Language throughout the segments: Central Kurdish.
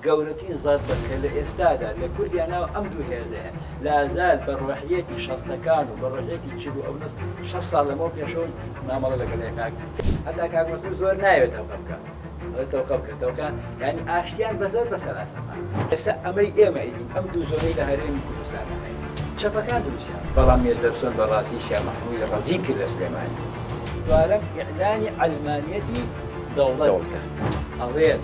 گەورەترین زەربە کە لە ئێستادا لە کوردیا ناو ئەم دوو هێزەیە لازال بە ڕۆحیەتی شەستەکان و بە ڕۆحیەتی چل و ئەونس شە ساڵ لەمەوە پێشەوە مامەڵە لەگەڵ یەکاک هەتا کاک مەسعود زۆر ناوێت تەوقە بکە ئەڵێ تەوقە بکە تەوقە یانی ئاشتیان بە زەربە سەراسەمان ئێستا ئەمەی ئێمە ئەیدین ئەم دوو زۆنەی لە هەرێمی کوردستان چەپەکان دروستیان بەڵام مێردەرسۆن بە ڕاستی شیا مەحموودی ڕەزیل کرد لە سلێمانی دوارەم ئیعلانی عەلمانیەتی دەوڵەت دەوڵەتە ئەڵێت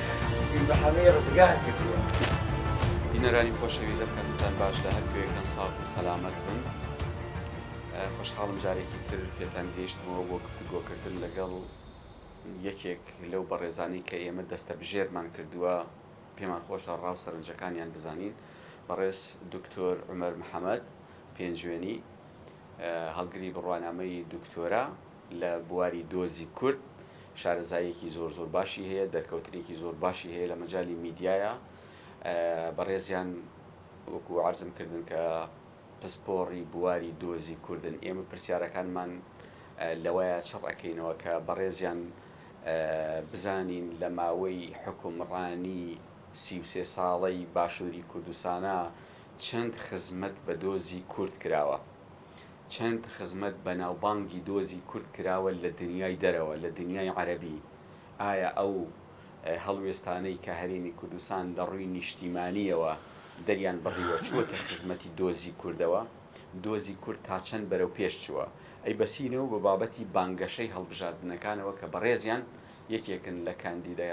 بیر بە حەمەی ڕزگار کردووە. بینەرانی خۆشەویست ئەکەمتان باش لە هەر کوێکن ساغ و سەلامەت بن خۆشحاڵم جارێکی تر پێتان گەیشتمەوە بۆ گفتوگۆکردن لەگەڵ یەکێک لەو بەڕێزانەی کە ئێمە دەستە بژێرمان کردووە پێمان خۆشە ڕاو سەرنجەکانیان بزانین بەڕێز دکتۆر عمر محەممەد پێنجوێنی هەڵگری بڕوانامەی دکتۆرە لە بواری دۆزی کورد شارەزاییەکی زۆر زۆر باشی هەیە دەرکەوتنێکی زۆر باشی هەیە لە مەجای میدیایە بەڕێزیان وەکو عرضم کردن کە پسپۆڕی بواری دۆزی کوردن ئێمە پرسیارەکانمان لەوەیە چڕ ئەەکەینەوە کە بەڕێزیان بزانین لە ماوەی حکومڕانی سیوسێ ساڵەی باشووری کوردستانە چەند خزمەت بە دۆزی کورد کراوە. چەند خزمەت بەناوبانگی دۆزی کورد کراوە لە دنیای دەرەوە لە دنیای عەرەبی ئایا ئەو هەڵوێستانەی کە هەرێمی کوردستان لە ڕووی نیشتیمانیەوە دەریان بڕیوە چووەتە خزمەتی دۆزی کوردەوە دۆزی کورد تا چەند بەرەو پێش چووە ئەی بەسینەوە بە بابەتی بانگەشەی هەڵبژاردنەکانەوە کە بەڕێزیان یەکێکن لە کاندیدە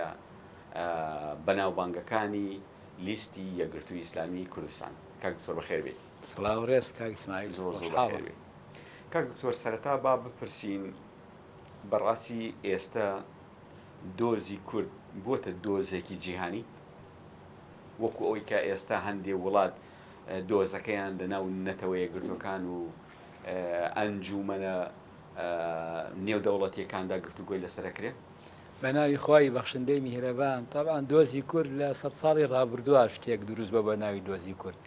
بەناوبانگەکانی لیستی یەکگرتووی ئیسلامی کوردستان کاک دکتۆر بەخێر بێی. سڵاو ڕێز کاک اسماعیل زۆر زۆر خۆشحاڵم. بەخێر بێی کاک دکتۆر سەرەتا با بپرسین بەڕاستی ئێستە دۆزی کورد بۆتە دۆزێکی جیهانی وەکو ئەوەی کە ئێستا هەندێ وڵات دۆزەکەیان لەناو نەتەوەیەکگرتوەکان و ئەنجومەنە نێودەوڵەتیەکاندا گفتوگۆی لەسەر ئەکرێ؟ بە ناوی خوای بەخشندەی میهرەبان تەبعەن دۆزی کورد لە سەد ساڵی ڕابردوە شتێک دروست بوە بە ناوی دۆزی کورد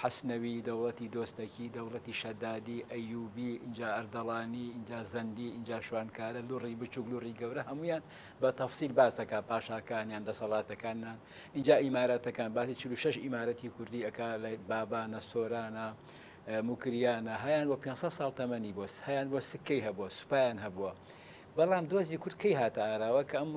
حەسنەوی، دەوڵەتی دۆستەکی، دەوڵەتی شەدادی، ئەیوبی، ئینجا ئەردەڵانی، ئینجا زەندی، ئینجا شوانکارە، لوڕی بچوک، لوڕی گەورە، هەموویان بە تەفسیل باس دەکا، پاشاکانیان، دەسەڵاتەکانیان، ئینجا ئیمارەتەکان، باسی چل و شەش ئیمارەتی کوردی ئەکا لە بابانە، سۆرانە، موکریانە، هەیان بۆ پێنج سەد ساڵ تەمەنی بۆ، هەیان بۆ سکەی هەبووە، سوپایان هەبووە، بەڵام دۆزی کورد کەی هاتە ئاراوە کە ئەم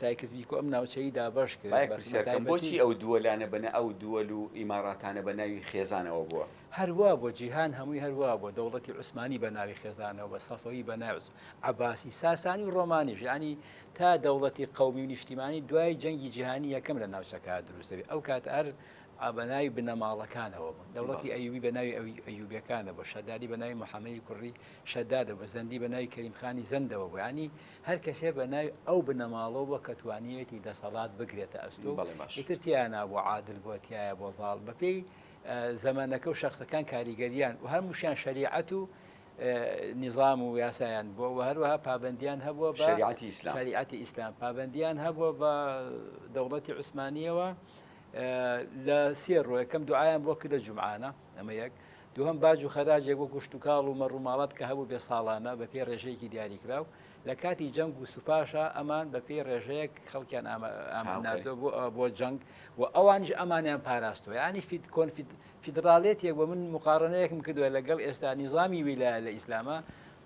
سایکس بیکۆ ئەم ناوچەی دابەش کرد؟ با یەک پرسیار بکەم، بۆچی ئەو دووەلانە بە نا ئەو دووەل و ئیماڕاتانە بە ناوی خێزانەوە بووە؟ هەر وا بووە، جیهان هەمووی هەر وا بووە، دەوڵەتی عوسمانی بە ناوی خێزانەوە بووە، سەفەوی بە ناوی عوس، عەباسی، ساسانی و ڕۆمانیش، یانی تا دەوڵەتی قەومی و نیشتیمانی دوای جەنگی جیهانی یەکەم لە ناوچەکە دروست دەبێت، ئەو کاتە هەر بە ناوی بنەماڵەکانەوە بوون، دەوڵەتی ئەیوبی بە ناوی ئەیوبیەکانە بوو، شەدادی بە ناوی محەمەی کوڕی شەدادە بە زەندی بە ناوی کەریم خانی زەندەوە بوو یانی هەر کەسێ بە ناوی ئەو بنەماڵەوە بووە کە توانیوێتی دەسەڵات بگرێتە ئەستۆ و بەڵێ باش ئیتر تیا نابوو عادل بووە تایە بۆ زاڵ بەپێی زەمەنەکە و شەخسەکان کاریگەریان و هەمووشیان شەریعەت و نیظام و یاسایان بووە و هەروەها پابندیان هەبووە بە شریعەتی ئیسلام شریعەتی ئیسلام پابندیان هەبووە بە دەوڵەتی عوسمانیەوە لە سێ ڕۆ یەکەم دوعایان بۆ کردە جمعانە ئەمە یەک دووهەم باج و خەراجێک وەکو شتوکاڵ و مەڕوماڵات کە هەبوو بێ ساڵانە بە پێی ڕێژەیەکی دیاریکراو لە کاتی جەنگ و سوپاشە ئەمان بە پێی ڕێژەیەک خەڵکیان ئامانناردۆ بۆ جەنگ و ئەوانش ئەمانیان پاراستوە ینی فید کۆنفید فیدراالێت یەک بە من مقاڕنەیەکم کردووە لەگەڵ ئێستا نیزامی ویلا لە ئیسلامە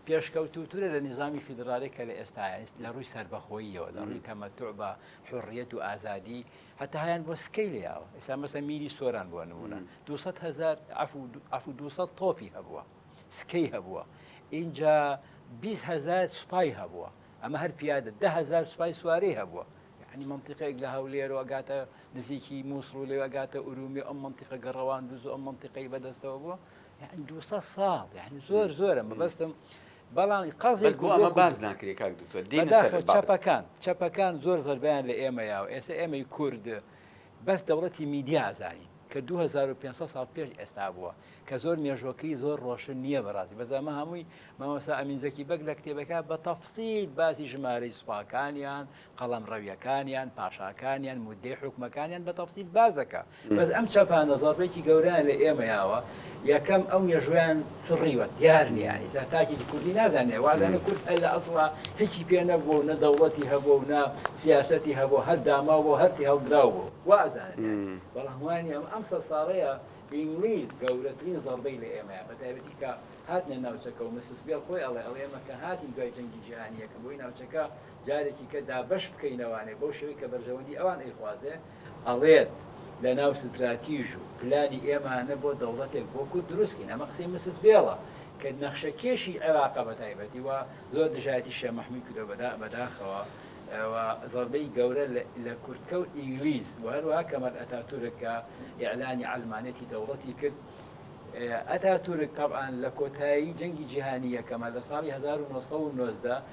پێشکەوتوترە لە نظامی فیدراالێک کە لە ئێستا لە ڕووی سربەخۆییەوە لە ڕووی تەمەتوع بە حڕیەت و ئازادی هەتا هەیان بۆ سکەی لێیاوە ئێستا مەسە میری سۆران بووە نمونە 200 هزار ئەف 200 تۆپی هەبووە سکەی هەبووە اینجا 20 هزار سوپای هەبووە ئەمە هەر پیادە ده هزار سوپای سوارەی هەبووە ینی منطقەیەک لە هەولێرەوە گاتە نزیکی مووسڵ و لەوە گاتە ئورومی ئەم منطقە گەڕەوان دوز ئەم منطقەی بەدەستەوە بووە یعنی دو ساڵ یعنی زۆر زۆرە مەبەستم بەڵام قەزێک بۆ ئەمە باس ناکرێ کاک دوکتۆر دێنە سەر بەداخەوە چەپەکان چەپەکان زۆر زەربەیان لە ئێمە یاوە ئێستا ئێمەی کورد بەس دەوڵەتی میدیا ئازانین کە 2500 ساڵ پێش ئێستا بووە کە زۆر مێژۆکەی زۆر ڕۆشن نییە بەڕاستی بەزانمە هەمووی مامۆسا ئەمین زەکی بەگ لە کتێبەکە بە تەفسیل باسی ژمارەی سوپاکانیان قەڵەمڕەویەکانیان، پاشاکانیان، مودەی حوکمەکانیان بە تەفسیل باس دەکا. بەس ئەم چەپانە زەڕبێکی گەورەیان لە ئێمە یاوە، یەکەم ئەو مێژوویان سڕیوە دیار نیە ئیسا تاکێکی کوردی نازانێ وازانێ کورد هەر لە ئەسڵا هیچی پێ نەبووە و نە دەوڵەتی هەبووە و نە سیاسەتی هەبووە هەر داماو بووە هەر تێهەڵدراو بووە وا ئەزانن یانی بەڵام وانیە ئەم ئەم سەد ساڵەیە ئینگلیز گەورەترین زەڕبەی لە ئێمە یا بە تایبەتی کە هاتنە ناوچەکە و مسس بێڵ خۆی ئەڵێ ئەڵێ ئێمە کە هاتین دوای جەنگی جیهانی یەکەم بۆی ناوچەکە جارێکی کە دابەش بکەینەوانێ بەو شێوەی کە بەرژەوەندی ئەوان ئەیخوازێ، ئەڵێت لە ناو ستراتیژ و پلانی ئێمانە بۆ دەوڵەتێک بۆ کورد دروست کەین. ئەمە قسەی مسز بێڵە کە نەخشە کێشی عێراقە بە تایبەتی و زۆر دژایەتی شێخ مەحموود کردوە بە دا بە داخەوە و زەڕبەی گەورە لە لە کوردکە و ئینگلیز و هەروەها کەمال ئەتاتورک کە ئیعلانی عەلمانێتی دەوڵەتی کرد ئەتاتورک تەبعەن لە کۆتایی جەنگی جیهانی یەکەمە لە ساڵی هەزار و نۆ سەد و نۆزدە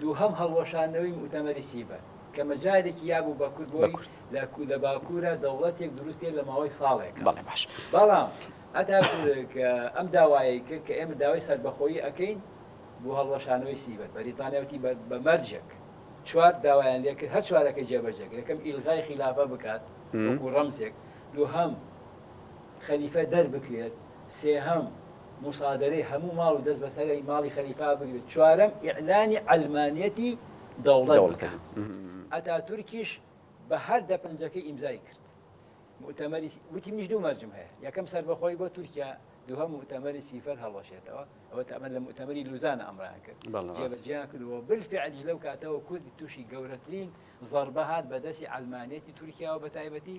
دووهەم هەڵوەشاندنەوەی موئتەمەری سیڤەر کە مەجالێکی یا بوو بە کورد بۆی لە لە باکوورە دەوڵەتێک دروست بکرێت لە ماوەی ساڵێک. بەڵێ باش. بەڵام ئەتاتورک ئەم داوایەی کرد کە ئێمە داوای سەربەخۆیی ئەکەین بۆ هەڵوەشانەوەی سیڤەر. بەریتانیا وتی بە بە مەرجێک چوار داوایان لێ کرد هەر چوارەکەی جێبەجێ کرد. یەکەم ئیلغای خیلافە بکات وەکوو ڕەمزێک. دووهەم خەلیفە دەربکرێت. سێهەم. موسادەرەی هەموو ماڵ و دەست بەسەرەی ماڵی خەلیفا بگرێت، چوارەم ئیعلانی عەلمانیەتی دەوڵەت بکات، ئەتاتورکیش بە هەر دە پەنجەکەی ئیمزای کرد. موئتەمەری وتی منیش دوو مەرجم هەیە، یەکەم سەربەخۆی بۆ تورکیا، دووهەم موئتەمەری سیفەر هەڵوەشێتەوە، ئەوە تەمەن لە موئتەمەری لوزانە ئەمڕیان کرد جێبەجێیان کردووە، بالفعلیش لەو کاتەوە کورد تووشی گەورەترین زەربە هات بە دەستی عەلمانیەتی تورکیاوە بەتایبەتی،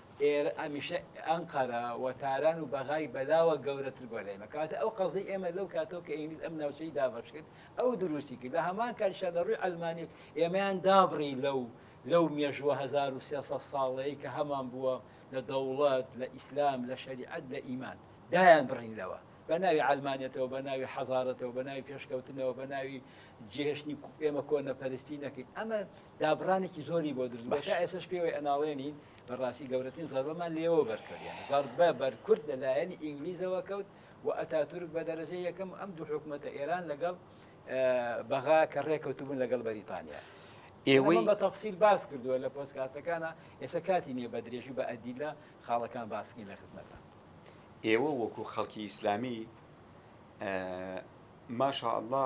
ئێرە ئەمیشە ئەنقەرە و تاران و بەغای بەلاوە گەورەتر بوە لە ئێمە کەواتە ئەو قەزەی ئێمە لەو کاتەوە کە ئینگلیز ئەم ناوچەی دابەش کرد ئەو دروستی کرد لە هەمان کاتیشا لە ڕووی عەلمانیت ئێمەیان دابڕی لەو لەو مێژووە 1300 ساڵەی کە هەمان بووە لە دەوڵەت لە ئیسلام لە شەریعەت لە ئیمان دایان بڕین لەوە بە ناوی عەلمانێتەوە بە ناوی حەزارەتەوە بە ناوی پێشکەوتنەوە بە ناوی جێهشتنی ئێمە کۆنە پەرستی نەکەین ئەمە دابڕانێکی زۆری بۆ دروست بوو، تا ئێسەش پێوەی ئەناڵێنین، بەڕاستی گەورەترین زەربەمان لێوە بەرکەوت، یانی زەربە بەر کورد لە لایەنی ئینگلیزەوە کەوت و ئەتاتورک بە دەرەجەی یەکەم ئەم دوو حکومەتە ئێران لەگەڵ بەغا کە ڕێکەوتبوون لەگەڵ بەریتانیا. ئێوەی بە تەفسیل باس کردووە لە پۆستکاستەکانا، ئێستا کاتی نییە بە درێژی و بە ئەدیلە خاڵەکان باس بکەین لە خزمەتان. ئێوە وەکوو خەڵکی ئیسلامی ماشاءاللە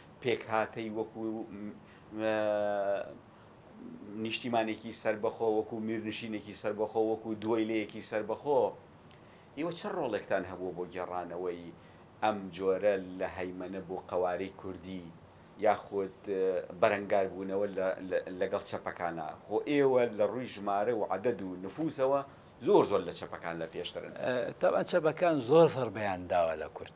پێکهاتەی وەکو نیشتیمانێکی سەربەخۆ وەکو میرنشینێکی سەربەخۆ وەکو دویلەیەکی سەربەخۆ ئێوە چ ڕۆڵێکتان هەبووە بۆ گێڕانەوەی ئەم جۆرە لە هەیمەنە بۆ قەوارەی کوردی یاخود بەرەنگاربوونەوە لەگەڵ چەپەکانە خۆ ئێوە لە ڕووی ژمارە و عدد و نفوسەوە زۆر زۆر لە چەپەکان لە پێشترن. تەبعەن چەپەکان زۆر زەڕبەیان داوە لە کورد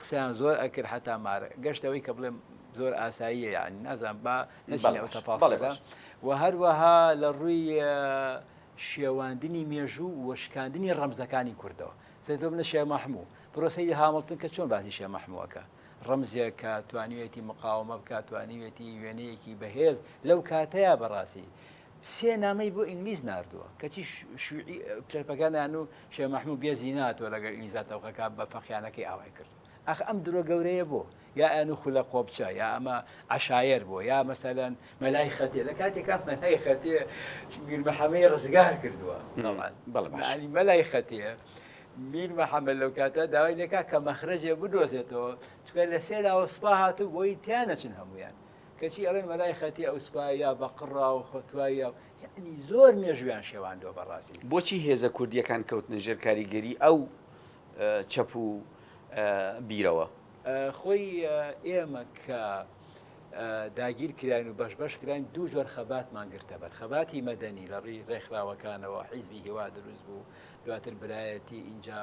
قسەیان زۆر ئەکرد حتا مارە گەشت ئەوەی کە بڵێم زۆر ئاساییە یعنی نازان با نەچین ئەو تەپاسەکە و هەروەها لە ڕووی شێواندنی مێژوو و شکاندنی ڕەمزەکانی کوردەوە سێتۆ بنە شێ مەحموو پرۆسەی هامڵتن کە چۆن باسی شێ مەحمووەکە ڕەمزێک کە توانیوێتی مقاومە بکات توانیوێتی وێنەیەکی بەهێز لەو کاتەیە بەڕاستی سێ نامەی بۆ ئینگلیز ناردووە کەچی شوعی پرەپەگانیان و شێ مەحموو بێزی ناتوە لەگەر ئینگلیزا تەوقەکە بە فەقیانەکەی ئاوای کرد ئەخ ئەم درۆ گەورەیە بۆ یا ئەن و خولە قۆپچە یا ئەمە عشایر بۆ یا مەسەلەن مەلای خەتێ لە کاتێکا مەلای خەتێ میر محەمەی ڕزگار کردووە مەلای خەتێ میر محەممە لەو کاتە داوای لەکە کە مەخرەجێ بدۆزێتەوە چکە لە سێراوە سوپا هاتوو بۆی تیانەچن هەمویان کەچی ئەڵێن مەلای خەتی ئەو سوپایە بە قڕا و خۆتوایە و یعنی زۆر مێژویان شێواندوە بەڕاستی. بۆچی هێزە کوردیەکان کەوتنە ژێر کاریگەری ئەو چەپ و بیرەوە؟ خۆی ئێمە کە داگیر کراین و بەش بەش کراین دوو جۆر خەباتمان گرتەبەر خەباتی مەدەنی لە ڕی ڕێکخراوەکانەوە حیزبی هیوا دروست بوو دواتر برایەتی ئینجا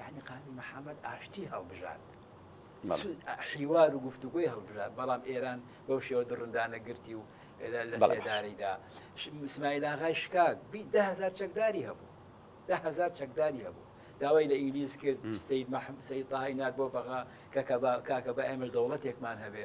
یانی قازی محەمەد ئاشتی هەڵبژارد، حیوار و گفتوگۆی هەڵبژارد، بەڵام ئێران بەو شێوە دڕندانە گرتی و لە سێدارەیدا. سمایل ئاغای شکاک بیست دە هەزار چەکداری هەبوو، دە هەزار چەکداری هەبوو. داوای لە ئینگلیز کرد سید محەمەد سید تاهایی نارد بۆ بەغا کە کاکە با ئێمەش دەوڵەتێکمان هەبێ،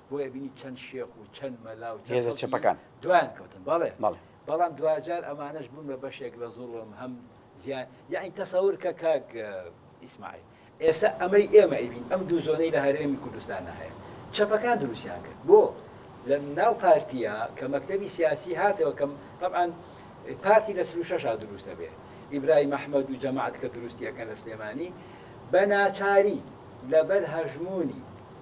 بۆیە بینی چەند شێخ و چەند مەلا و چەند خەڵکی دوایان کەوتن بەڵێ بەڵام دواجار ئەمانەش بوون بە بەشێک لە زوڵم هەم زیان یعنی تەسەور کە کاک ئیسماعیل ئێستا ئەمەی ئێمە ئەیبین ئەم دوو زۆنەی لە هەرێمی کوردستانە هەیە چەپەکان دروستیان کرد بۆ لە ناو پارتیە کە مەکتەبی سیاسی هاتەوە کەم طبعاان پارتی لە سلو شەشا دروستە بێ ئیبرای مححمد و جەماعات کە دروستیەکەن لە سلێمانی بە ناچاری لەبەر هەژمونی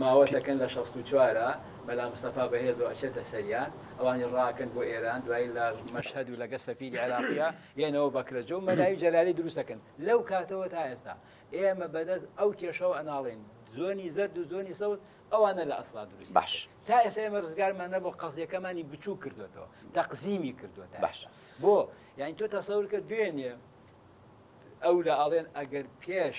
ماوە دەکەن لە شەست و چوار ە مەلا مستەفا بەهێزەوە ئەچێتە سەریان ئەوانی ڕاکەن بۆ ئێران دوایی لە مەشهەد و لەگە سەفیری عێراقیا یەنەوە بەکرەجە و مەلای جەلالی دروستەکەن لەو کاتەوە تا ئێستا ئێمە بەدەست ئەو کێشەوە ئەناڵین زۆنی زەرد و زۆنی سەوز ئەوانە لە ئەسڵا دروست باش تا ئێستا ئێمە ڕزگارمان نەبوو قەزیەکەمانی بچوو کردوێتەوە تەقزیمی کردوێت باش بۆ یعنی تۆ تەسەور کە دوێنێ ئەو لە ئاڵێن ئەگەر پێش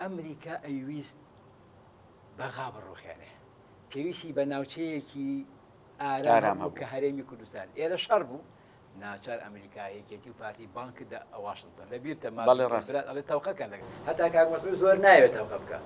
ئەمریکا ئەیویست بەغا بڕوخێنێ پێویستی بە ناوچەیەکی ئارام هەبوو کە هەرێمی کوردستان ئێرە شەڕ بوو ناچار ئەمریکا یەکێتی و پارتی بانک دا ئەواشنتۆن لە بیرتە ماڵی ڕاست ئەڵێ تەوقەکەن لەگە هەتا کاگمەسمە زۆر ناوێت تەوقە بکە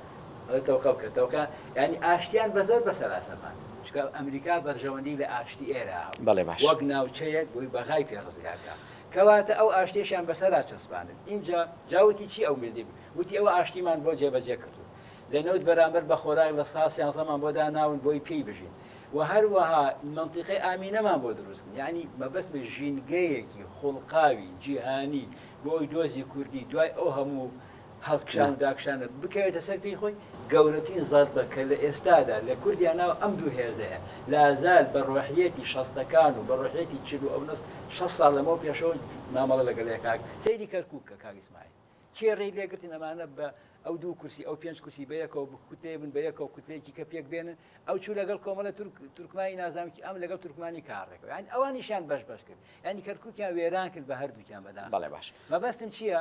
ئەڵێ تەوقە بکە تەوقە ینی ئاشتیان بە زۆر بەسەر ئاسەمان چکە ئەمریکا بەرژەوەندی لە ئاشتی ئێرە بەڵێ باش وەک ناوچەیەک بۆی بەغای پێ ڕزگارکە کەواتە ئەو ئاشتیەشیان بەسەرا چەسپاندن ئینجا جا وتی چی ئەو مردی وتی ئەوە ئاشتیمان بۆ جێبەجێ کردوون لە نەوت بەرامبەر بە خۆراک لە سا سیانزەمان بۆ داناون بۆی پێی بژین و هەروەها مەنتیقەی ئامینەمان بۆ دروست کرد یعنی مەبەستمە ژینگەیەکی خوڵقاوی جیهانی بۆی دۆزی کوردی دوای ئەو هەموو هەڵکشان و داکشانە بکەوێتە سەر پێی خۆی، گەورەترین زەربە کە لە ئێستادا لە کوردیا ناو ئەم دوو هێزەیە، لازال بە ڕۆحییەتی شەستەکان و بە ڕۆحییەتی چل و ئەونە شەست ساڵ لەمەو پێشەوە مامەڵە لەگەڵی ئەکات، سەیری کەرکوک کە کاک ئیسماعیل کێ ڕێی لێ گرتن ئەمانە بە ئەو دوو کورسی ئەو پێنج کورسی بەیەکەوە بکوتێ بن بەیەکەوە کوتلەیەکی کە پێک بێنن ئەو چوو لەگەڵ کۆمەڵە تورک تورکمانی نازام کی ئەم لەگەڵ تورکمانی کاڕێکەوە یان ئەوانیشیان بەش بەش کرد ینی کەرکوکیان وێران کرد بە هەردووکیان بەدا بەڵێ باش مەبەستم چییە؟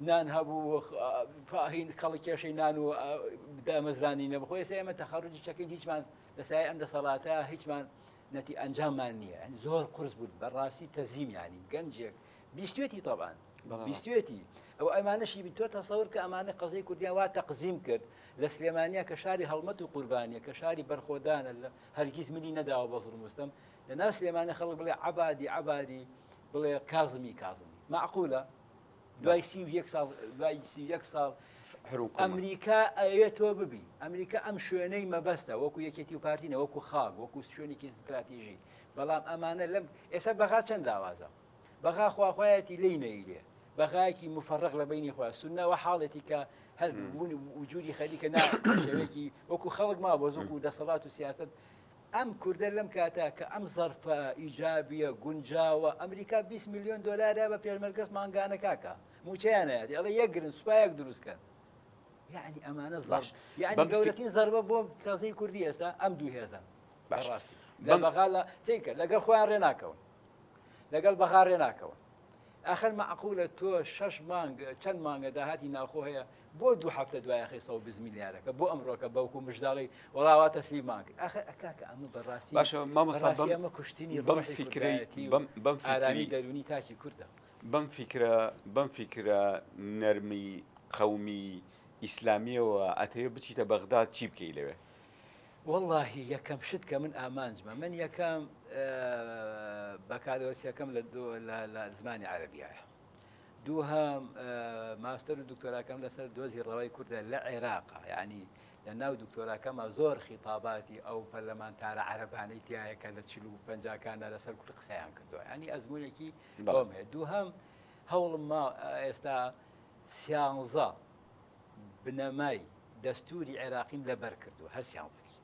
نان هەبوو و هین کەڵی کێشەی نان و دامەزرانی نەبوو خۆی ئێمە تەخەڕجی چەکەین هیچمان لەسای ئەم دەسەڵاتە هیچمان نەتی ئەنجاممان نییە زۆر قرس بوو بەڕاستی تەزیمیانی گەنجێک بیستێتی تەبان بیستێتی ئەو ئەمانەشی بی تۆ تەسەور کە ئەمانە قەزەی کوردیان وا تەقزیم کرد لە سلێمانیا کە شاری هەڵمەت و قوربانیە کە شاری بەرخۆدانە لە هەرگیز منی نەداوە بە زڵمستم لە ناو سلێمانە خەڵک بڵێ عبادی عبادی بڵێ کازمی کازمی معقولە دوای سی و یەک ساڵ دوای سی و یەک ساڵ حروکومە. ئەمریکا ئەوێت تۆ ببی ئەمریکا ئەم شوێنەی مەبەستە وەکو یەکێتی و پارتی نەوەکو خاک وەکو شوێنێکی ستراتیژی بەڵام ئەمانە لەم ئێستا بەغا چەند داوازە بەغا خواخوایەتی لی نەیرێ بەغایەکی مفرق لە بینی خۆ سنەوە حاڵێتی کە هەر بوون وجودی خەریکە ناوێکی وەکو خەڵک ما بۆ زۆکو دەسەڵات و سیاست ئەم کوردە لەم کاتە کە ئەم زەرفە ئیجابیە گونجاوە ئەمریکا بیست ملیۆن دۆلارە بە پێشمەرگەس مانگانە کاکە موچەیان ئەیات ئەڵێ یەک گرن سوپایەک دروست کەن یعنی ئەمانە زەش یعنی گەورەترین زەربە بۆ کەزەی کوردی ئێستا ئەم دوو هێزە بەڕاستی بەغا لە تیکە لەگەڵ خۆیان ڕێ ناکەون لەگەڵ بەغا ڕێ ناکەون ئەخەر مەعقولە تۆ شەش مانگ چەند مانگە داهاتی ناوخۆ هەیە بۆ دوو هەفتە دوای خستەوە بزمیلیارەکە بۆ ئەمڕۆکە بەوکو مژداڵی وڵاوا تەسلیمان کرد ئەخ کاکە ئەمە بەڕاستی باشە مامەسەمە کوشتنی بەم فیکرەتی بەم بەم فکری دەرونی تاکی کوردە بەم فیکرە بەم فیکرە نەرمی قەومی ئیسلامیەوە ئەتەوێ بچیتە بەغداد چی بکەی لەوێ واللهی یەکەم شت کە من ئامانجمە من یەکەم بەکارەوەسیەکەم لە زمانی عەربیایە دووهەم، ماستەر و دکتۆراکەم لەسەر دۆزی ڕەوای کوردە لە عێراق، یانی لە ناو دکتۆراکەما زۆر خیتاباتی ئەو پەرلەمانتارە عەرەبانەی تایە کە لە چل و پەنجاکاندا لەسەر کورد قسەیان کردووە، یانی ئەزمونێکی بەڵام هەیە دووهەم هەوڵم ما ئێستا سیانزە بنەمای دەستوری عێراقیم لەبەر کردووە هەر سیانزەکی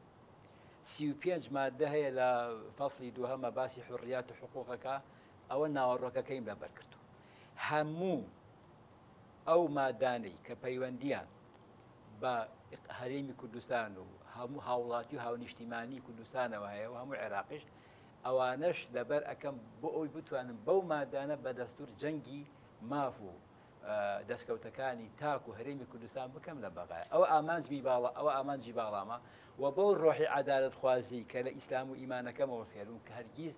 سی و پێنج مادە هەیە لە فەصلی دووهەمە باسی حڕیات و حقوقەکە ئەوە ناوەڕۆکەکەیم لەبەر کردووە. هەموو ئەو مادانەی کە پەیوەندیان بە هەرێمی کوردستان و هەموو هاوڵاتی و هاونیشتیمانی کوردستانەوە هەیە و هەموو عێراقیش ئەوانەش لەبەر ئەەکەم بۆ ئەوی بتوانم بەو مادانە بە دەستور جەنگی ماف و دەستکەوتەکانی تاک و هەرێمی کوردستان بکەم لە بەغای ئەو ئامانجمی باڵا ئەوە ئامانجی باڵامە و بەو ڕۆحی عدالت خوازی کە لە ئیسلام و ئیمانەکەمەوە فێرم کە هەرگیز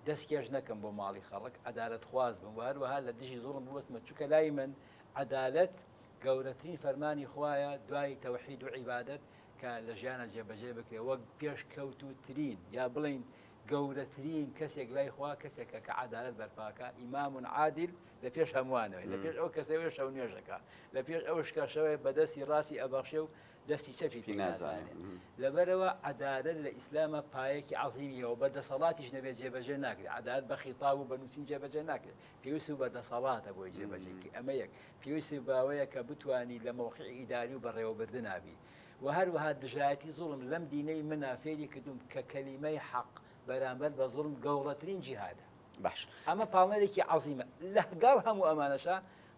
دەست کێش نەکەم بۆ ماڵی خەڵک عەدالەت خواز بم وە هەروەها لە دژی زوڵم بوەستمە چونکە لای من عەدالەت گەورەترین فەرمانی خوایە دوای تەوحید و عیبادەت کە لە ژیانە جێبەجێ بکرێ وەک پێش کەوتو ترین یا بڵین گەورەترین کەسێک لای خوا کەسێکە کە عەدالەت بەرپاکە ئیمام عادل لە پێش هەمووانەوەی لە پێش ئەو کەسەوەی شەو نوێژەکە لە پێش ئەو شکەشەوەی بەدەستی ڕاستی ئەبەخشێ و دەستی چەپی پێ نازانێت لەبەرەوە عەدالەت لە ئیسلامە پایەکی عەزیمیەوە بە دەسەڵاتیش نەبێت جێبەجێ ناکرێت عەدالەت بە خیتاب و بە نووسین جێبەجێ ناکرێت پێویست بە دەسەڵاتە بۆی جێبەجێکی ئەمە یەک پێویستی باوەیە کە بتانی لە مۆقعی ئیداری و بەڕێوەبردنابی و هەروەها دژایەتی زوڵم لەم دینەی منا فێری کردوم کە کەلیمەی حەق بەرامبەر بە زوڵم گەوڕەترین جیهادە باش ئەمە پاڵنەرێکی عەزیمە لەگەڵ هەموو ئەمانەشە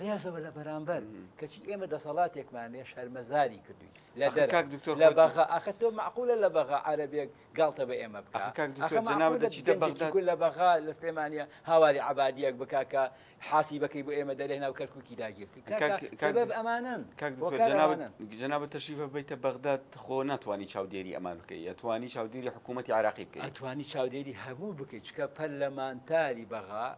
ڕێزەوە لە بەرامبەر کەچی ئێمە دەسەڵاتێکمان لێ شەرمەزاری کردوین لە دکتۆر لە بەغا ئاخە تۆ معقولە لە بەغا عربێک گاڵتە بە ئێمە لە بەغا لە سلێمانە هاواری عبادیەک بککە حاسی بەکەی بۆ ئێمە دەرێ ناو کەرککی داگیرکرد ئەمانن جناب تەشیفە بیتە بەغداد خۆ ناتوانانی چاودێری ئەمان بکەی یتوانی چاودێری حکوومەتتی عراقی بکەیتوانی چاودێری هەموو بکەیت چکە پەرلەمانتاری بەغا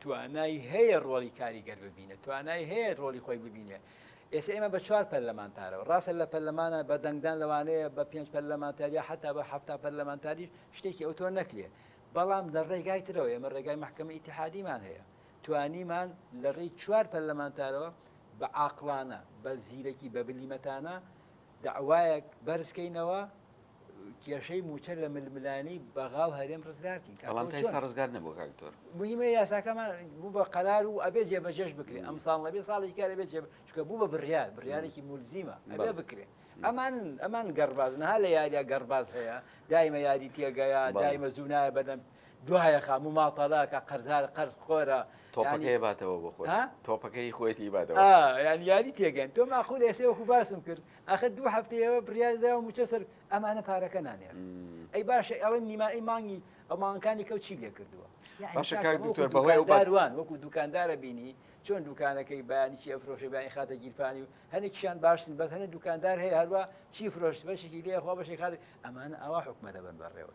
توانای هەیە ڕۆڵی کاریگەر ببینێت، توانای هەیە ڕۆڵی خۆی ببینێت. ئێستا ئێمە بە چوار پەرلەمانتارەوە، ڕاستە لە پەرلەمانە بە دەنگدان لەوانەیە بە پێنج پەرلەمانتار یا حتا بە حەفتا پەرلەمانتاریش شتێکی ئەوتۆ نەکرێت، بەڵام لە ڕێگای ترەوە ئێمە ڕێگای مەحکەمە ئیتحادیمان هەیە، توانیمان لە ڕێی چوار پەرلەمانتارەوە بە عاقڵانە، بە زیرەکی، بە بلیمەتانە، دەعوایەک بەرز کەینەوە کێشەی موچە لە ململانی بەغا و هەرێم ڕزگارکەین بەڵام تا ئێستا ڕزگار نەبوو کاک دکتۆر مهمە یاساکەمان بوو بە قەرار و ئەبێ جێبەجێش بکرێت ئەم ساڵ نەبێ ساڵی کار ئەبێت جێب چکە بوو بە بڕیار بڕیارێکی مولزیمە ئەبێ بکرێت ئەمان ئەمان گەڕباز نەها لە یاریە گەڕباز هەیە دایمە یاری تێگەیە دایمە زوو نایە بەدەم دوایە خە مو ماطەڵە کە قەرزارە قەرز خۆرە تۆپەکەی باتەوە بۆ خۆی تۆپەکەی خۆێتی باتەوە یان یاری تێگەن تۆ ماخور ئێسێ وەکو باسم کرد ئەخە دوو هەفتەیەوە بریادا و موچە سەر ئەمانە پارەکە نانێ ئەی باشە ئەڵێ نیمائی مانگی ئەو مانکانی کەوت چی لێ کردووە بەهوان وەکو دوکاندارە بینی چۆن دوکانەکەی بەیانیی ئەفرۆشە بیانی خاتە گیرفانی و هەنێکیان باشن بەس هەنێ دوکاندار هەیە هەروە چی فرۆشت بەشێکی لێخوا بەشێک خات ئەمان ئاوا حکومەتە بن بەڕێوە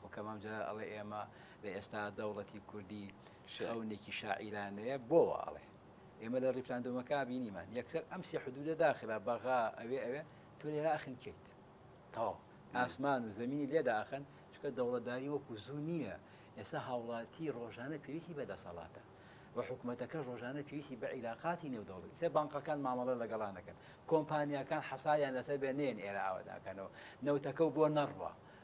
خۆکەم ئەم جارە ئەڵێ ئێمە لە ئێستا دەوڵەتی کوردی شەونێکی شاعیرانەیە بۆوە ئەڵێ ئێمە لە ڕیفراندۆمەکە بینیمان یەکسەر ئەم سێ حدودە داخرا بەغا ئەوێ ئەوێ تۆ لێراخن کەیت تاو ئاسمان و زمینی لێداخن چکە دەوڵەتداری وەکو زوو نییە ئێستا هاوڵاتی ڕۆژانە پێویستی بە دەسەڵاتە و حکوومەتەکە ڕۆژانە پێویستی بە عیلاقاتی نێودەوڵی سێ بانقەکان مامەڵە لەگەڵانەکەن کۆمپانیەکان حەسایان لەسەر بێ نێن ئێرە ئاواداکەنەوە نەوتەکە و بۆ نەڕوە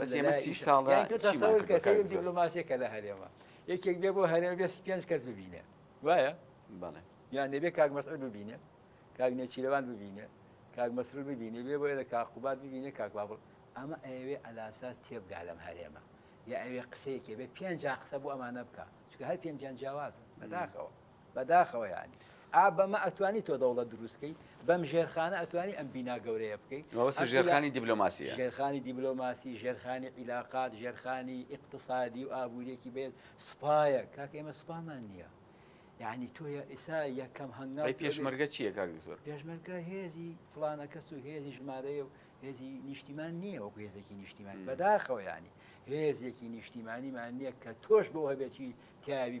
بەس ئێمە سی ساڵە دیبلۆماسیەکە لە هەرێمە یەکێک بێ بۆ هەرێمە بێ پێنج کەس ببینێ وایە یان نەبێ کاک مەسعر ببینێ کاک نێچیرەوان ببینێ کاک مەسرور ببینێ بێ بۆیە لە کاقوبات ببینێ کاک بابڵ ئەمە ئەوێ ئەلاساس تێبگا لەم هەرێمە یا ئەوێ قسەیەکێ بێ پێنج قسە بۆ ئەمانە بکە چکە هەر پێنجان جیاوازن بەداخەوە بەداخەوە یانی ئا بەمە ئەتوانی تۆ دەوڵەت دروست کەی بەم ژێرخانە ئەتوانی ئەم بینا گەورەیە بکەی مەبەست ژێرخانی دیبلۆماسی ژێرخانی دیبلۆماسی ژێرخانی عیلاقات ژێرخانی ئیقتصادی و ئابووریەکی بێت سوپایە کاک ئێمە سوپامان نییە یعنی تۆ ئێسا یەکەم هەنگا پێشمەرگە چیە کاک دکتۆر پێشمەرگە هێزی فلانە کەس و هێزی ژمارەیە و هێزی نیشتیمان نییە وەکو هێزێکی نیشتیمان بەداخەوەیانی هێزێکی نیشتیمانیمان نییە کە تۆش بۆ هەبێکی تیاوی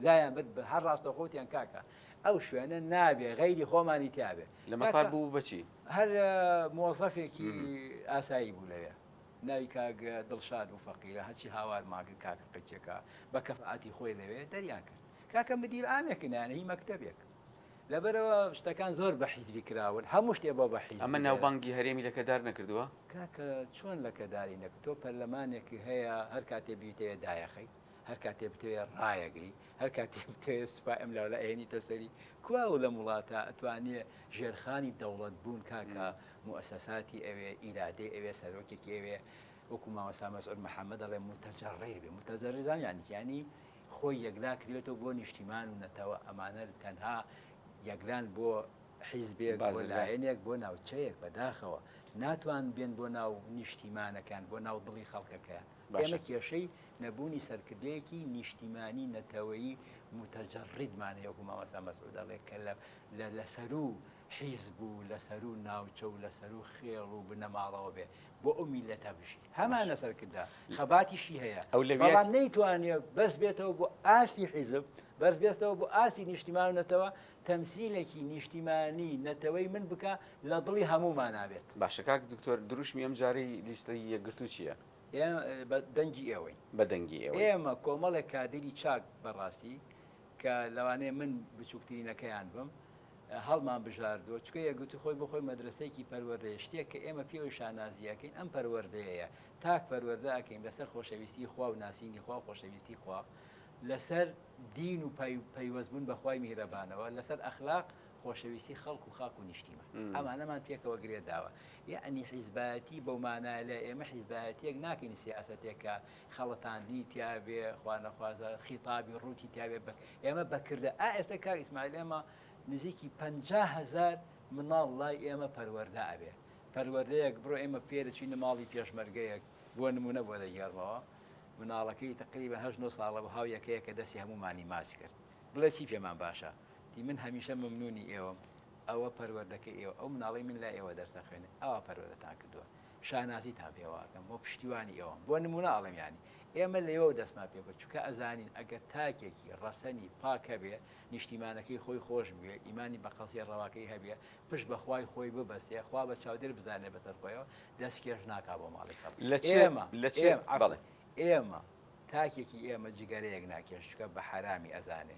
لایان برد بە هەر ڕاستەوخۆ وتیان کاکە ئەو شوێنە نابێ غەیری خۆمانی تیابێ لە مەتار بوو بەچی هەر مۆزەفێکی ئاسایی بوو لەوێ ناوی کاک دڵشاد و فەقیرە هەچی هاوار ماگر کاکە قچێکە بە کەفعاتی خۆی لەوێ دەریان کرد کاکە مدیر ئامێکنیان هی مەکتتەبێک لەبەرەوە شتەکان زۆر بە حیزبی کراون هەموو شتێ بۆ بە حیز ئەمە ناوبانگی هەرێمی لەکەدار نەکردووە کاکە چۆن لەکەداری نەکە تۆ پەرلەمانێکی هەیە هەر کاتێ بیتەیە دایەخەی هەر کاتێ بتەوێ ڕایەگری هەر کاتی بتەوێ سوپا ئەم لاولا ئەێنیتە سەری کوا و لەم وڵاتە ئەتوانێ ژێرخانی دەوڵەت بوون کاکە موسەساتی ئەوێ ئیرادەی ئەوێ سەرۆکێکی ئەوێ وەکو ماوەسا مەسعود محەممەد دەڵێ متەجەڕیر بێ متەجەرزان یانیانی خۆی یەکلا کردێتەوە بۆ نیشتیمان و نەتەوە ئەمانە تەنها یەکلان بۆ حیزبێک بازلایەنێک بۆ ناوچەیەک بەداخەوە ناتوان بێن بۆ ناو نیشتیمانەکان بۆ ناو دڵی خەڵکەکەیان ئێمە کێشەی نەبوونی سەرکردەیەکی نیشتیمانی نەتەوەیی متەجەڕیدمان هەیە وەکو مامۆستا مەسعود دەڵێت کە لە سەروو حیزب و لە سەروو ناوچە و لە سەروو خێڵ و بنەماڵەوە بێ بۆ ئەو میلەتە بژی هەمانە سەرکردە خەباتیشی هەیە ئەو لە نەیتوانێت بەس بێتەوە بۆ ئاستی حیزب بەس بێستەوە بۆ ئاستی نیشتیمان و نەتەوە تەمسیلێکی نیشتیمانی نەتەوەی من بکە لە دڵی هەموو ماناوێت باشەکە دکتۆر دروشمی ئەم جارەی لیستەی یەکگرتو چییە؟ ئێمە بە دەنگی ئێوەین. بە دەنگی ئێوەین. ئێمە کۆمەڵێک کادیری چاک بە ڕاستی کە لەوانەیە من بچووکترینەکەیان بم، هەڵمان بژاردووە، چونکە یەکگرتووی خۆی بۆ خۆی مەدرەسەیەکی پەروەردەیە، شتێک کە ئێمە پێوەی شانازی ئەکەین ئەم پەروەردەیەیە، تاک پەروەردە ئەکەین لەسەر خۆشەویستیی خوا و ناسینی خوا و خۆشەویستیی خوا، لەسەر دین و پەیوەستبوون بە خوای میهرەبانەوە، لەسەر ئەخلاق خۆشەویستی خەڵک و خاک و نیشتیمان ئەمانەمان پێکەوە گرێ داوە. یەعنی حیزبایەتی بەو مانایە ئێمە حیزبایەتییەک ناکەین سیاسەتێک کە خەڵەتاندنی تیا بێ، خوانەخوازە خیتابی ڕووتی تیا بێ بە ئێمە بە کردە. ئا ئێستا کاک ئیسماعیل ئێمە نزیکی پەنجا هەزار مناڵ لای ئێمە پەروەردە ئەبێ. پەروەردەیەک بڕۆ ئێمە فێر دەچووینە ماڵی پێشمەرگەیەک بۆ نموونە بۆ دەگێڕمەوە، مناڵەکەی تەقریبەن هەشت نۆ ساڵە بوو هاو یەکەیەکە دەستی هەموومانی ماچ کرد، بڵێ چی پێمان باشە؟ تی من هەمیشە مەمنوونی ئێوەم ئەوە پەروەردەکەی ئێوە ئەو مناڵی من لای ئێوە دەرسە خوێنێ ئاوا پەروەردەتان کردووە شانازیتان پێواکەم بۆ پشتیوانی ئێوەم بۆ نمونە ئاڵم ینی ئێمە لەوە و دەستمان پێ بە چکە ئەزانین ئەگەر تاکێکی ڕەسەنی پاکەبێ نیشتیمانەکەی خۆی خۆش بوێ ئیمانی بە قەزیە ڕەواکەی هەبێ پشت بەخوای خۆی ببەستێ خوا بە چاودێر بزانێ بەسەر خۆیەوە دەست کێش ناکا بۆ ماڵی کەڵ لە ئێمە لە چێ بەڵێ ئێمە تاکێکی ئێمە جگەرەیەک ناکێش چکە بە حرامی ئەزانێ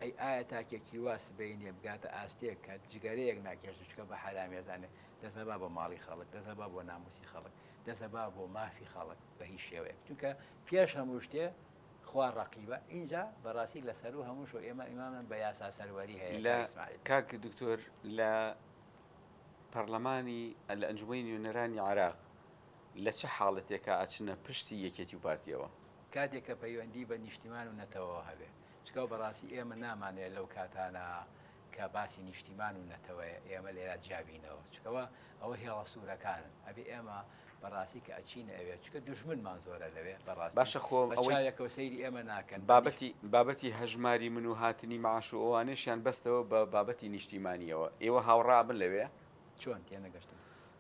ئەی ئایا تاکێکی وا سبەی نیە بگاتە ئاستێک کە جگەرەیەک ناکێشێ چونکە بە حەرامی ئەزانێ، دەست مەبا بۆ ماڵی خەڵک، دەست مەبا بۆ ناموسی خەڵک، دەست مەبا بۆ مافی خەڵک بە هیچ شێوەیەک چونکە پێش هەموو شتێ خوا ڕەقیبە ئینجا بەڕاستی لە سەروو هەمووشەوە ئێمە ئیمامن بە یاسا سەروەری هەیە لە کاک دکتۆر لە پەڕلەمانی لە ئەنجومەنی نوێنەرانی عێراق لە چ حاڵەتێکا ئەچنە پشتی یەکێتی و پارتیەوە؟ کاتێک کە پەیوەندی بە نیشتیمان و نەتەوەوە هەبێ. چونکە بەڕاستی ئێمە نامانەوێ لەو کاتانە کە باسی نیشتیمان و نەتەوەیە ئێمە لێرا جیا بینەوە. چونکە وا ئەوە هێڵە سوورەکانن. ئەبێ ئێمە بەڕاستی کە ئەچینە ئەوێ، چونکە دوژمنمان زۆرە لەوێ بەڕاستی باشە خۆ بە ئەوەی چاوێکەوە سەیری ئێمە ناکەن. بە نیش. بابەتی بابەتی هەژماری من و هاتنی مەعاش و ئەوانەیشیان بەستەوە بە بابەتی نیشتیمانیەوە. ئێوە هاوڕا ئەبن لەوێ؟ چۆن؟ تێنەگەشتم.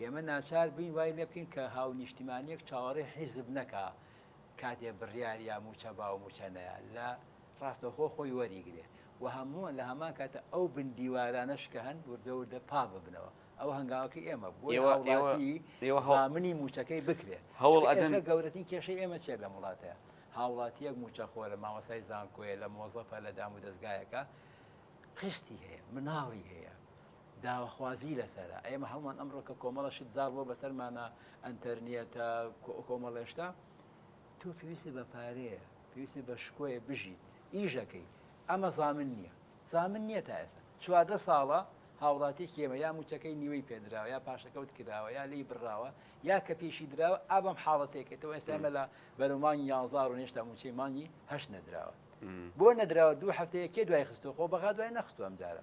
ئێمە ناچار بووین وای لێ بکەین کە هاونیشتیمانییەک چاوەڕێی حیزب نەکا کاتێ بڕیار یا مووچە با و مووچە نەیا لە ڕاستەوخۆ خۆی وەریگرێ و هەمووان لە هەمان کاتە ئەو بندیوارانەش کە هەن وردە وردە پاک ببنەوە ئەوە هەنگاوەکەی ئێمە بوو ئێوە ئێوە- هاوڵاتی ئێوە هەوڵ- زامنی مووچەکەی بکرێ هەوڵ چونکە ئەدەن- ئێستا گەورەترین کێشەی ئێمە چیە لەم وڵاتەیە هاوڵاتیەک مووچەخۆرە مامۆستای زانکۆیە لە مۆزەفە لە دام و دەزگایەکە قستی هەیە مناڵی هەیە داواخوازی لەسەرە ئێمە هەمووان ئەمڕۆ کە کۆمەڵە شت زاڵ بۆ بەسەرمانە ئەتەرنیەتە کۆمەڵێشتا تۆ پێویستی بە پارەیە پێویستی بە شکۆیە بژیت ئیژەکەی ئەمە زامن نییە زامن نییە تا ئێستا چواردە ساڵە هاوڵاتی کێمە یا موچەکەی نیوەی پێدراوە یا پاشەکەوت کراوە یا لی بڕاوە یا کە پێشی دراوە ئابم حاڵەتێکێتەوە ئێسامە لە بەرە مانگی یازار و نێشتا موچەی مانگی هەش نەدراوە بۆ نەدراوە دوو هەفتەیە کێ دوای خستۆ خۆ بەغا دوای نەخستو ئەم جارە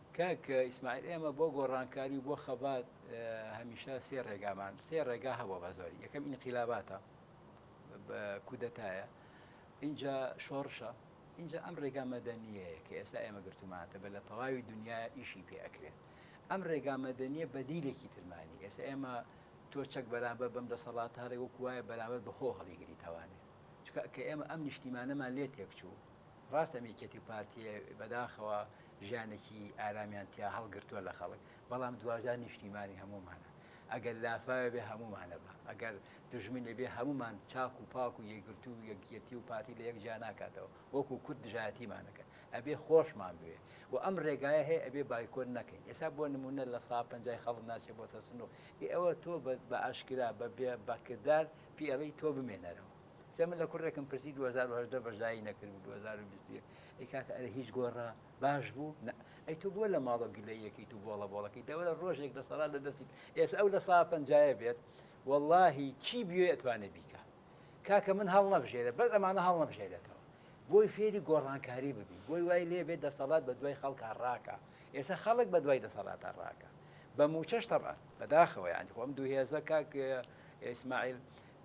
کاک ئیسماعیل ئێمە بۆ گۆڕانکاری و بۆ خەبات هەمیشە سێ ڕێگامان سێ ڕێگا هەبووە بە زۆری یەکەم ئینقیلاباتە کودەتایە اینجا شۆڕشە اینجا ئەم ڕێگا مەدەنیەیە کە ئێستا ئێمە گرتومانتە بە لە تەواوی دنیا ئیشی پێ ئەکرێت ئەم ڕێگا مەدەنیە بەدیلێکی ترمانی ئێستا ئێمە تۆ چەک بەرامبەر بەم دەسەڵات هەڵێ وەکوایە بەرامبەر بەخۆ هەڵیگری تاوانێ چکە کە ئێمە ئەم نیشتیمانەمان لێ تێکچوو ڕاستە میکەتی و پارتیە بەداخەوە ژیانێکی ئارامیان تیا هەڵگرتووە لە خەڵک بەڵام دواجار نیشتیمانی هەموومانە ئەگەر لافاوێ بێ هەموومانە بە ئەگەر دژمنێ بێ هەموومان چاک و پاک و یەکگرتو و یەکیەتی و پارتی لە یەک جیا ناکاتەوە وەکو کورد دژایەتیمانەکەن ئەبێ خۆشمان بوێ و ئەم ڕێگایە هەیە ئەبێ بایکۆت نەکەین ئێسا بۆ نمونە لە سا پەنجای خەڵک ناچێ بۆ سەر سنووق ئێ ئەوە تۆ بە ئاشکرا بە بە کردار پێڵی تۆ بمێنەرەوە سێ من لە کوڕێکم پرسی 2010 بەشدایی نەکرد و 2021 ئەی کاکە ئەرە هیچ گۆڕا باش بوو ئەی تو بۆ لە ماڵە گلەیەکی تو بۆڵە بۆڵەکەی دەوەرە ڕۆژێک لە سەڵات لە دەستی ئێس ئەو لە سا پنجایە بێت واللهی چی بوێ ئەتوانێ بیکە کاکە من هەڵ نەبژێرە بەس ئەمانە هەڵ نەبژێرێتەوە بۆی فێری گۆڕانکاری ببی بۆی وای لێ بێت دەسەڵات بە دوای خەڵکە ڕاکە ئێستا خەڵک بە دوای دەسەڵاتە ڕاکە بە موچەش تەڕان بەداخەوە ینی خۆم دووهێزە کاک ئیسماعیل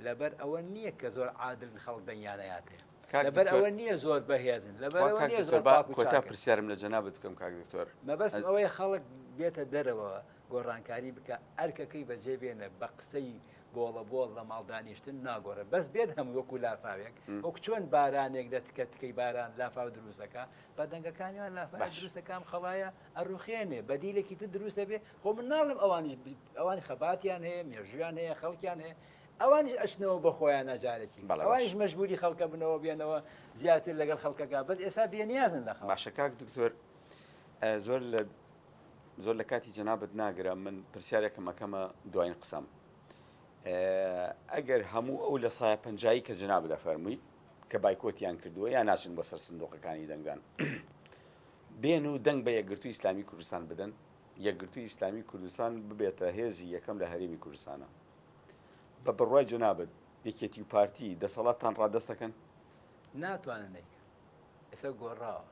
لەبەر ئەوە نییە کە زۆر عادلن خەڵک دەنگیان نەیاتێ. کاک لەبەر دکتۆر ئەوە نییە زۆر بەهێزن. لەبەر وا ئەوە کاک نییە دکتۆر زۆر با پاک و کۆتا چاکن. پرسیارم لە جەنابت بکەم کاک دکتۆر مەبەستم ئەز- ئەوەیە خەڵک بێتە دەرەوە گۆڕانکاری بکا ئەرکەکەی بەجێ بێنە بە قسەی بۆڵە بۆڵ لە ماڵ دانیشتن ناگۆڕێ بەس بێت هەمووی وەکو لافاوێک وەک چۆن بارانێک لە تکە تکەی باران لافاو دروست دەکا بە دەنگەکانیان لافاوێک باش. دروست دەکا ئەم خەڵایە ئەڕوخێنێ بەدیلێکی تر دروست ئەبێ خۆ من ناڵێم ئەوانیش ئەوانی خەباتیان هەیە مێژویان هەیە خەڵکیان هەیە ئەوانیش ئەشنەوە بە خۆیان ناجارێکی ئەوانیش مەژبوری خەڵکە بنەوە بێنەوە زیاتر لەگەڵ خەڵکەکە بەس ئێستا بێنیازن لە باشەکک دکتۆر زۆر لە زۆر لە کاتی جەنابەت ناگرە من پرسیارێکم ئەەکەمە دوایین قسەم ئەگەر هەموو ئەو لە سایە پنجایی کە جناب دەفەرمووی کە بایکۆتیان کردووە یا ناچن بۆ سەر سندۆقەکانی دەنگدان بێن و دەنگ بە یەکگرتووی ئیسلامی کوردستان بدەن، یەکگرتووی ئیسلامی کوردستان ببێتە هێزی یەکەم لە هەرێمی کوردستانا. بە بڕوای جەنابت یەکێتی و پارتی دەسەڵاتتان ڕادەست دەکەن؟ ناتوانن نەیکەن. ئێستا گۆڕاوە.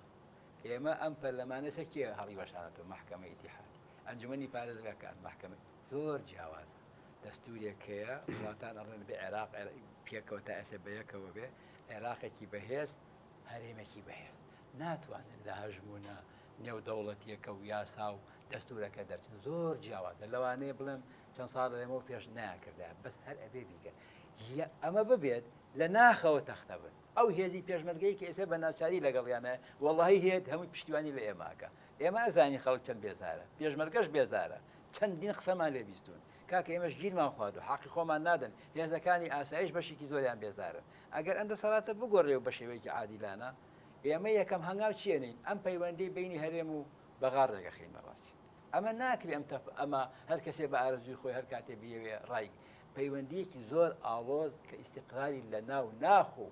ئێمە ئەم پەرلەمانە سەر کێ هەڵیوەشانەتەوە؟ مەحکەمەی ئیتیحادی، ئەنجومەنی پارێزگاکان، مەحکەمە. زۆر جیاوازە. دەستوورێک هەیە، وڵاتان ئەڵێن بێ عێراق، عێراق پێکەوە تا ئێستا بە یەکەوە بێ، عێراقێکی بەهێز، هەرێمێکی بەهێز ناتوانێت لە هەژموونە نێودەوڵەتیەکە و یاسا و دەستورەکە دەرچن زۆر جیاوازە لەوانەیە بڵێم چەند ساڵ لەمەەوە پێش ناکردا بەس هەر ئەبێ بیکەن ئەمە ببێت لە ناخەوە تەختە بن ئەو هێزی پێشمەرگەی کە ئێستا بە ناچاری لەگەڵیانە وەڵی هێت هەمووی پشتیوانی لە ئێماکە ئێمە ئەزانی خەڵک چەند بێزارە پێشمەرگەش بێزارە چەندین قسەمان لێ بیستون کاکە ئێمەش گیرمان خوارد و حەقی خۆمان نادەن هێزەکانی ئاسایش بەشێکی زۆریان بێزارن ئەگەر ئەم دەسەڵاتە بگۆڕێ و بە شێوەیەکی عادیلانە، ئێمە یەکەم هەنگاو چێنین، ئەم پەیوەندیەی بەینی هەرێم و بەغار ڕێگەخینە ڕاستی. ئەمە ناکرێ، ئەم تەپ ئەمە هەر کەسێ بە ئارەزووی خۆی هەر کاتێ بیەوێ ڕای. پەیوەندیەکی زۆر ئاڵۆز کە ئیستیقرالی لە ناو ناخ و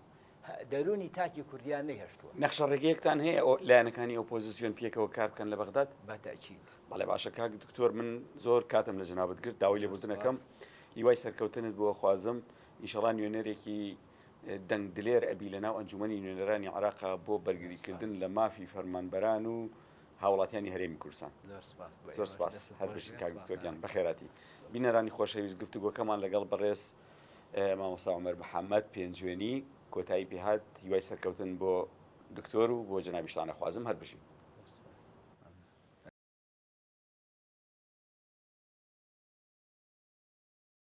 دەروونی تاکی کوردیان نەیهێشتووە. نەخشە ڕێگەیەکتان هەیە ئەو لایەنەکانی ئۆپۆزیسیۆن پێکەوە کار بکەن لە بەغداد؟ بە تەئکید. بەڵێ باشە کاک دکتۆر من زۆر کاتم لە جەنابت گرت داوای لێبوردن ئەکەم. هیوای سەرکەوتنت بۆ ئەخوازم. ئینشەڵا نوێنەرێکی دەنگ دلێر ئەبی لەناو ئەنجومەنی نوێنەرانی عراقا بۆ بەرگریکردن لە مافی فەرمانبەران و هاوڵاتیانی هەرێمی کوردستان زۆر سپاس هەر بژین کاک دکتۆر گیان بەخێراتی بینەرانی خۆشەویست گفتوگۆکەمان لەگەڵ بەڕێز مامۆستا عمر محەممەد پێنجوێنی کۆتایی پێهات هیوای سەرکەوتن بۆ دکتۆر و بۆ جنابیشتانە خوازم هەر بژین